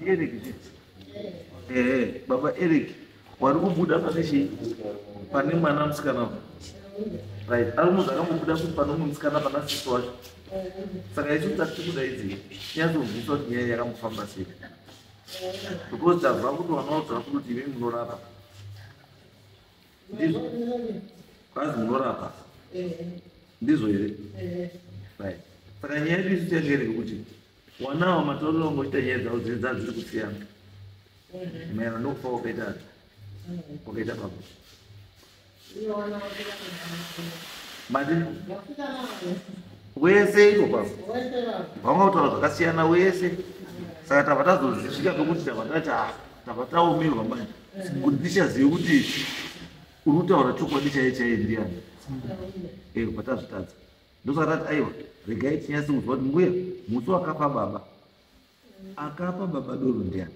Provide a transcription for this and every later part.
Eric zviti. Eh, baba Eric wari kubuda pane chii? Pane mwana musikana uyu. Right, ari munhu akambobuda kuti pane umwe musikana pana sisi wacho. Saka isu tati kudaidzei. Nyazobvunzwa kuti nyaya yakambofamba sei. Because tazwa kuti wanaodzwa kuti imi munorapa. Ndizvo. Kwazi munorapa. Ndizvo here? Right. Saka nyaya yedu isu tiyangereke kuti wanawo matorero ngoita nyaya dzavo dziri dzaa dziri kusiyana maererano nokufa kwakaita ati kwakaita baba mati wese iko baba vanga kutaura zvakasiyana wese saka tava tazozvisvika pekuti tava tati ah, tava taomerwa manje kuti tichazive kuti uri kutaura chokwadi chaiye chaiye ndiyani eko eh, patazvitadza ndosaka tati aiwa regai tinyase kunzwa kuti mbuya musi wakapa baba akapa baba doro ndiani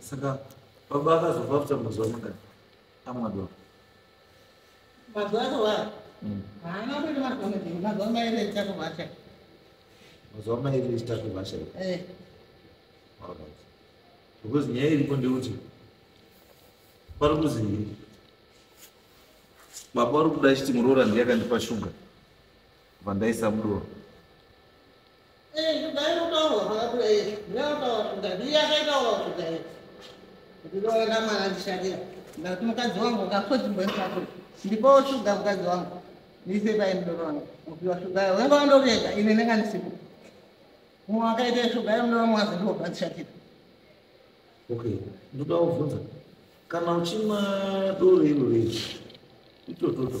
saka baba akazofa after mazuva mangani amadwa mazuva akavara mm. haana kuita mazuva madini mazuva mairi echitatu vasha mazuva mairi echitatu vasha eh. because nyaya iripo ndekuti pari kuzi baba vari kuda chiti muroora ndiye akandipa shuga vandaisamuroora Eh, ndairotaura zvakabuda izvi ndairotaura kuti ndaiye akaitaura kuti ndaiye kuti ndoenda mwana ndishandira ndati mukadzi wangu ukakodzimboisako ndipo shuga mukadzi wangu ndiise pai mudoro wangu upiwa shuga yo wenga wandovenga ine ndinga ndisipo mumwe akaita shuga yo mudoro mwazi ndobva ndishatira okay ndoda kuvhunza kana uchimwa doro iro rei itototo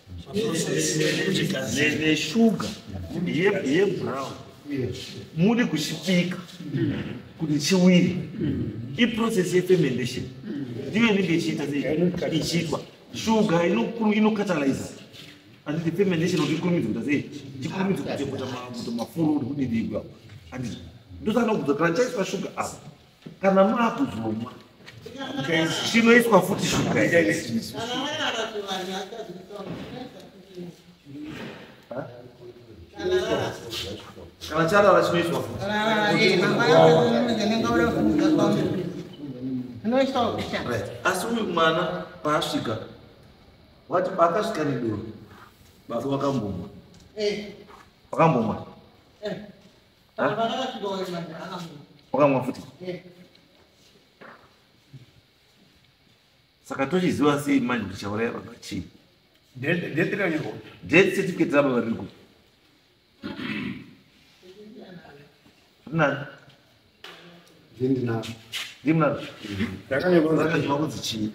neshuga yebrown muri kuchipika kuti chiwiri iprocess yefermentation ndiyo inenge ichiita ichiitwa shuga inokataliza anditi fermentation kuti ikurumidze kuita sei tikurumidze kuteputa mafuruuti kudidigwa anditi ndosaka nokudza kana chaiswa shuga apa kana maakuzomwa chinoiswa futi shuga kana charara chinoiswa futi asi uyu mwana paasvika wati paakasvika nedoro baba wakambomwa eh. wakambomwa eh. wakamwa futi saka tochiziva sei manje kuti chauraya baba chii death certificate rababa riri kupi rinaro ndinaro ndinaro ndakanyakanzwa kunzi chii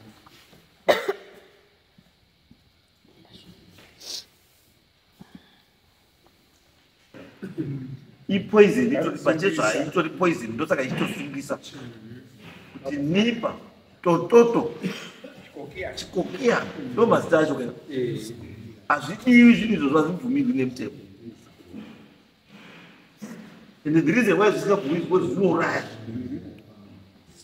ipoison itori pachezvo haitori poison ndosaka ichitosungisa kuti nipa tototo chikokiya ndo mazita acho kana hazvidiwi zvinhu izvozvo hazvibvumirwi nemutemo and the reason why zvisingabvumirwi because zvinouraya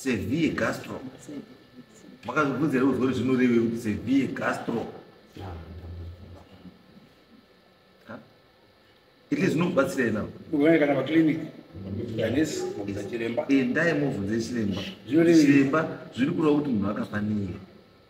sevie gastro makazvibvunza here kuzori zvinoreve kuti sevie gastro ili zvinokubatsira ina kana paclinic endai mobvunze chiremba chiremba zviri kureva kuti munhu akafanira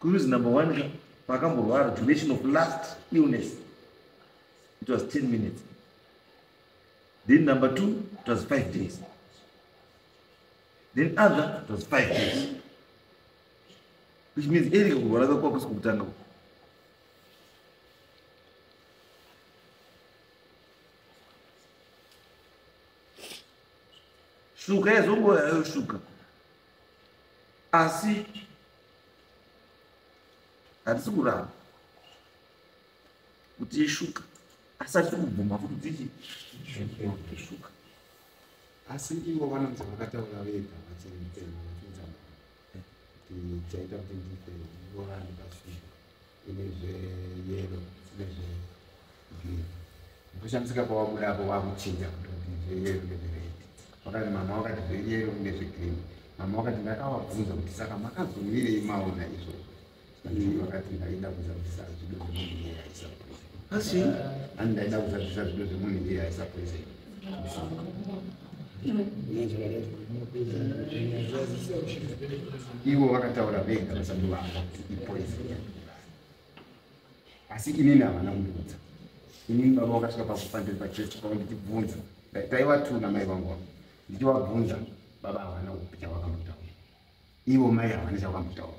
Kuruzi number one ka pakamborwara duration of last illness it was 10 minutes then number two it was five days then other it was five days which means erika kurwara ka kwakusi kukutanga uku shuka yazongoyayoshuka asi hatisi kuramba kuti ishuka asi hatisi kubvuma kuti dzichi ishuka asi ivo vanonzi vakataura vega vachimutema vachimutama kuti chaita kuti ndife ivo vanipasii ine zveyero dzine zvegreen ndoshamisika pawabuda apo wakuchinja kutoti zveyero nezvered wakati mama wakati zveyero nezvegreen mama wakati ndakawabvunza kuti saka makazomirei maona izvozvo vakati ndaida kuza kuti sazvido zvemunhu yeyaisaa asi ani ndaida kuzadzisa zvido zvemunhu ndiye aisapoise ivo vakataura vega vasati vava ipoise asi inini havana kundiudza inini baba vakasvika pakufandiri pachurch pavo ndichibvunza taivatuna mai vangu vavo ndichivabvunza baba havana kupi chavakambotaura ivo mai havana chavakambotaura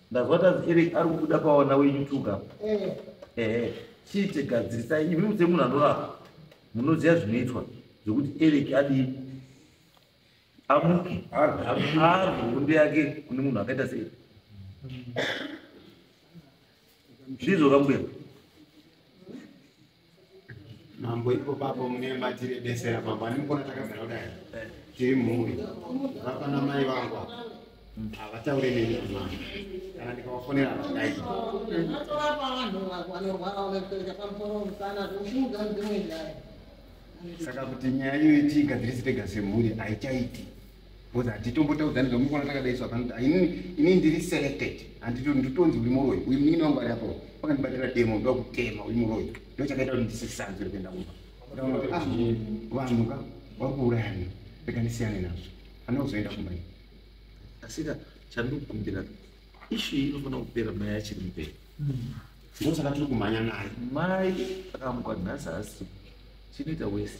ndazwa tazi eric ari kubuda pawana weyoutube apa eh. ehe chiite gadzirisai imi muse munhu anorapa munoziva zvinoitwa zvekuti eric adii amuke arwe hondo yake kune munhu akaita sei ndizvo kambuya mambo ipo papo mune matiri besera mambo animukona takagara kudai eh. tiri mhuri vapa namai vangu apa mm. havataure neni kumama kana ndikavafonera vadai saka kuti nyaya iyoyi tiigadzirisi tega semhuri haichaiti Because hatitombotaudzani zvamu kuona takadai so hapana kuti inini inini ndiri selected handiti ndotonzi uri muroyi uyu munin'ina wangu ari apo pakandibatira demo ndoda kutema uri muroyi ndo chakaita kuti ndisisanzwe rekuenda kumba kutaura kuti ah vanhu ka vari kuurayana rega ndisiyane nazvo handina kuzoenda kumba ini asika chandikumbira ishu iyi inofanira kupera mai achiri mberi ndosaka tiri kumhanya naye mai akamuka nhasi asi chinoita wese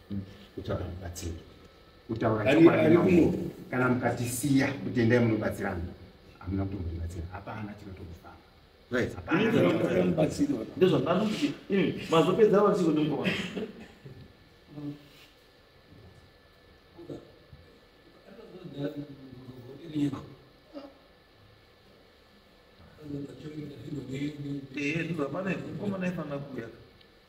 kutsvaga mubatsiri kutaura kana mukatisiya kuti endai munobatsirana hamuna kuti munobatsira hapana chinotokufamba mazopedza vatsiko ndimukoma Eh, dura, pane, como não é para na cuia?